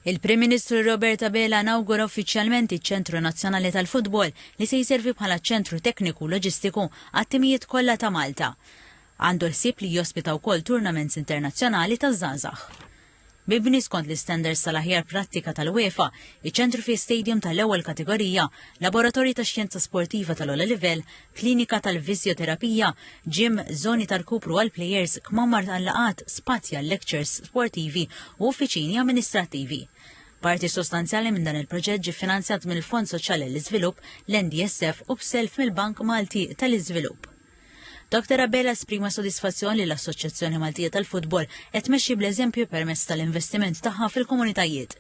Il-Prim Ministru Robert Abela nawgura uffiċjalment iċ-Ċentru Nazzjonali tal-Futbol li se jservi bħala ċentru tekniku u loġistiku għat-timijiet kollha ta' Malta. Għandu l-ħsieb li jospita wkoll tournaments internazzjonali taż-żgħażagħ. Mibni skont l-istandards tal-aħjar prattika tal-UEFA, iċ-ċentru fih stadium tal-ewwel kategorija, laboratorji tax-xjenza sportiva tal-ogħla livell, klinika tal-fiżjoterapija, gym, żoni ta' rkupru għall-plejers, kmamar tal-laqgħat, spazji għal-lekċers sportivi u uffiċini amministrattivi. Parti sostanzjali minn dan il-proġett ġie finanzjat mill-Fond Soċjali għall-Iżvilupp, l-NDSF, u b'self mill-Bank Malti tal-Iżvilupp. Dr. Abela esprima sodisfazzjon li l-Assoċjazzjoni Maltija tal-Futbol qed tmexxi bl-eżempju permezz tal-investiment tagħha fil-komunitajiet.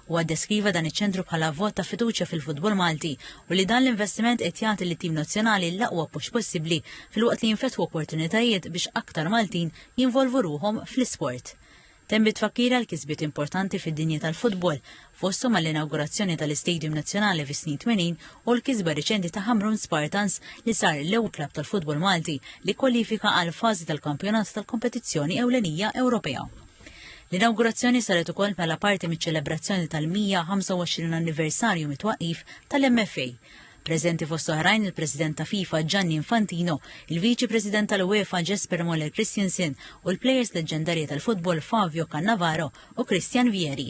Huwa ddeskriva dan iċ-ċentru bħala vot ta' fiduċja fil-futbol Malti u li dan l-investiment qed jagħti lit-tim nazzjonali l-aqwa push possibbli filwaqt li jinfetħu opportunitajiet biex aktar Maltin jinvolvu ruħhom fl-isport. Temm bit-tfakkir għal kisbiet importanti fid-dinja tal-futbol, fosthom għall-inawgurazzjoni tal-Istadium Nazzjonali fis-snin 80 u l-kisba riċenti ta' Ħamrun Spartans li sar l-ewwel klabb tal-futbol Malti li kkwalifika għall-fażi tal-kampjonat tal-kompetizzjoni ewlenija Ewropea. L-inawgurazzjoni saret ukoll bħala parti miċ-ċelebrazzjoni tal-125 anniversarju mit-twaqqif tal-MFA. Preżenti fost oħrajn il-President ta' FIFA Gianni Infantino, il-Viċi President tal-UEFA Jesper Moller Christensen u l-plejers leġġendarji tal-futbol Fabio Cannavaro u Christian Vieri.